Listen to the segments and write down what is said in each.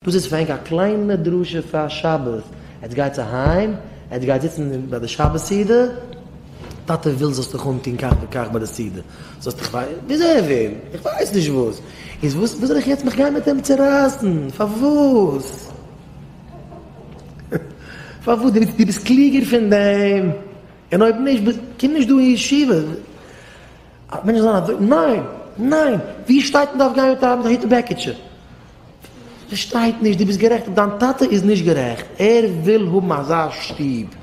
דאס איז פרענק א קליינע דרשה פאר שבת, עטס גייטס אהיים, עטס גייטס זיצן ביי די שבת סעודה, טאטע וויל זאלסט דיך אנטון כך וכך ביי די סעודה, זאלסט דיך פאר וויאזוי ער וויל, איך ווייס נישט וואס, איז וואס וואס זאל איך יעצט מיך גיין מיט אים צורייסן, פארוואס? פארוואס? דו דו ביסט קלוגער פון דעם? און אויב נישט ביסט קום נישט דא אין ישיבה. מענטשן זאלן אזוי, ניין! ניין! ווי שטייט מען דארף גיין מיט א היט בעקיטשע? פארשטייט נישט, דו ביסט גערעכט, דיין טאטע איז נישט גערעכט, ער וויל האבן אזא שטוב,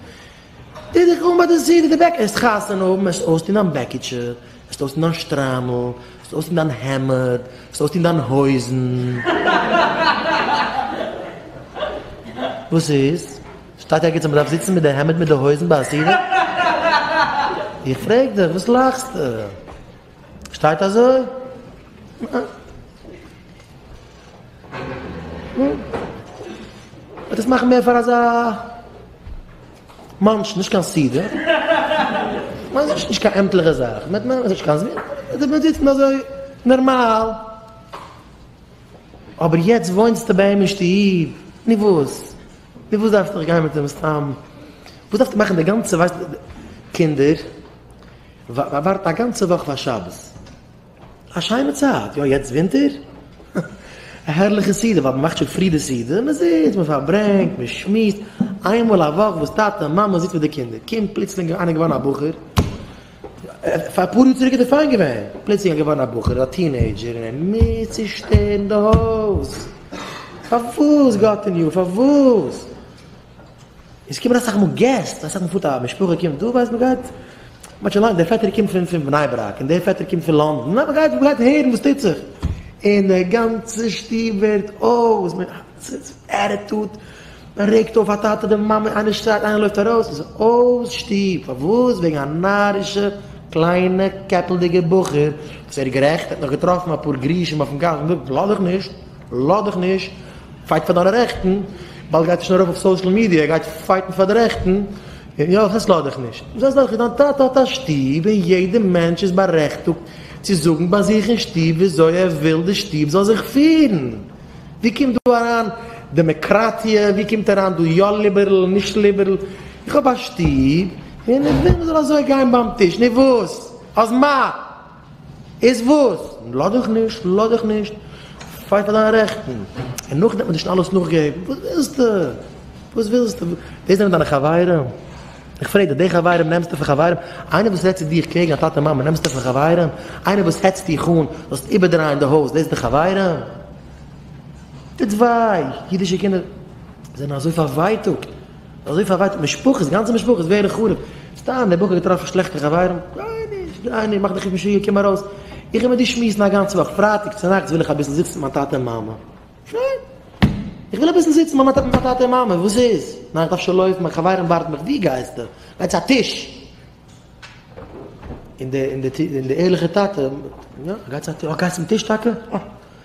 טו דיך אן ביי די סידי די בעק, העסט חתונה האבן, העסט אויסטון דיין בעקיטשע, העסט אויסטון דיין שטריימל, העסט אויסטון דיין העמד, העסט אויסטון דיין הויזן, וואס איז? שטייט ערגעץ אז מען דארף זיצן מיט די העמד מיט די הויזן ביי א סידי? איך פרעג דיך, וואס לאכסטו? שטייט אזוי? וועט עס מאכן מער פאר אזא מאנטש, נישט קיין סידער. מען זאגט נישט קיין עמטליכע זאך, מען מען זאגט קיין זמין, די מען זיצן אזוי נארמאל. אבער יעצט וואוינסטו ביי אים אין שטוב, נו וואס? נו וואס דארפסטו גיין מיט אים סתם? וואס דארפסטו מאכן די גאנצע ווייסט קינדער? ווארט א גאנצע וואך פאר שבת. א שיינע צייט, יא יעצט ווינטער? א הערליכע סעודה ווייל מען מאכט שוין פרי די סעודה, מען זיצט מען פארברענגט מען שמועסט, איינמאל א וואך וואס טאטע מאמע זיצט מיט די קינדער, קומט פלוצלינג איינער געווארן א בחור, פאר אפאר יאר צוריק איז דער פיין געווען, פלוצלינג ער געווארן א בחור א טינעידזשער און ער מוז צושטערן די הויז, פארוואס גאט אין הימל פארוואס? עס קומען אסאך מאל געסט, אסאך מאל פארט א משפחה קומט דא, ווייסט מען גייט, מ'האט שוין לאנג, דער פעטער קומט פון פון בני ברק, און דער פעטער קומט פון לאנדן, ניין מ'גייט מען גייט הערן וואס טוט זיך, און דער גאנצע שטוב ווערט אויס, מען ס'איז עטיטוד, מען רעגט אויף א טאטע אדער מאמע, איינער שרייט איינער לויפט ארויס, ס'איז אויס שטוב, פארוואס? וועגן א נארישע קליינע קעפלדיגע בחור, וואס ער איז גערעכט, ער האט נאך געטראפן אפאר גרושים אויפן גאס, און זאגט, לאז איך נישט. לאך דיך נישט, פייט פאר דיינע רעכטן, באלד גייט ער שוין ארויף אויף סאושעל מידיע, ער גייט פייטן פאר די רעכטן, און יא, כ'עס לאך דיך נישט. זאגסט דאך, דיין טאטע האט א שטוב, און יעדע מענטש איז בארעכטוגט צו זאגן ביי זיך אין שטוב וויאזוי ער וויל די שטוב זאל זיך פירן. ווי קומט דא אריין דעמעקראטיע, ווי קומט אריין דא יא ליבערל נישט ליבערל, איך האב א שטוב, און איך וויל מ'זאל אזוי גיין ביים טיש, נו וואס? אז מה? איז וואס? לאז דיך נישט, לאז דיך נישט, פייט פאר דיינע רעכטן, און נאכדעם וועט מען דיר שוין אלעס נאכגעבן, וואס ווילסטו? וואס ווילסטו? דאס זענען דיינע חברים? איך פרעג דיך, די חברים נעמסטו פאר חברים? איינער וואס רעדט צו דיך קעגן א טאטע מאמע נעמסטו פאר חברים? איינער וואס העצט דיך אן זאלסט איבערדרייען די הויז, דאס זענען חברים? טוט וויי, אידישע קינדער זענען אזוי פארווייטאגט, אזוי פארווייטאגט משפחות, גאנצע משפחות ווערן חרוב, סתם דער בחור האט געטראפן שלעכטע חברים, גיי נישט, גיי נישט, מאך דיך נישט משוגע, קום ארויס, איך וועל מיט דיר שמועסן א גאנצע וואך, פרייטאג צונאכטס וויל איך אביסל זיצן מיט מיין טאטע און מאמע, פיין, איך וויל אביסל זיצן מיט מיין טאטע און מאמע, וואס איז? ניין, איך דארף שוין לויפן, מיין חברים ווארטן מיך, וואו גייסטו? גיי צו א טיש! און דער ערליכער טאטע, יא, גיי צו א טיש, אה, גייסט צום טיש טאקע? אה.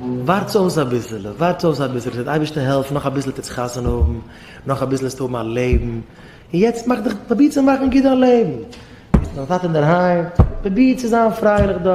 ווארטס אויס אביסעלע, ווארטס אויס אביסעלע, ס'וועט אייבערשטער העלפן, נאך אביסל וועטס חתונה האבן, נאך אביסל וועסטו האבן א לעבן, און יעצט מאך דיך, פרוביר צו מאכן גוט דיין לעבן, ביסט מיט דיין טאטע אינדערהיים, פרוביר צו זיין פרייליך דארט.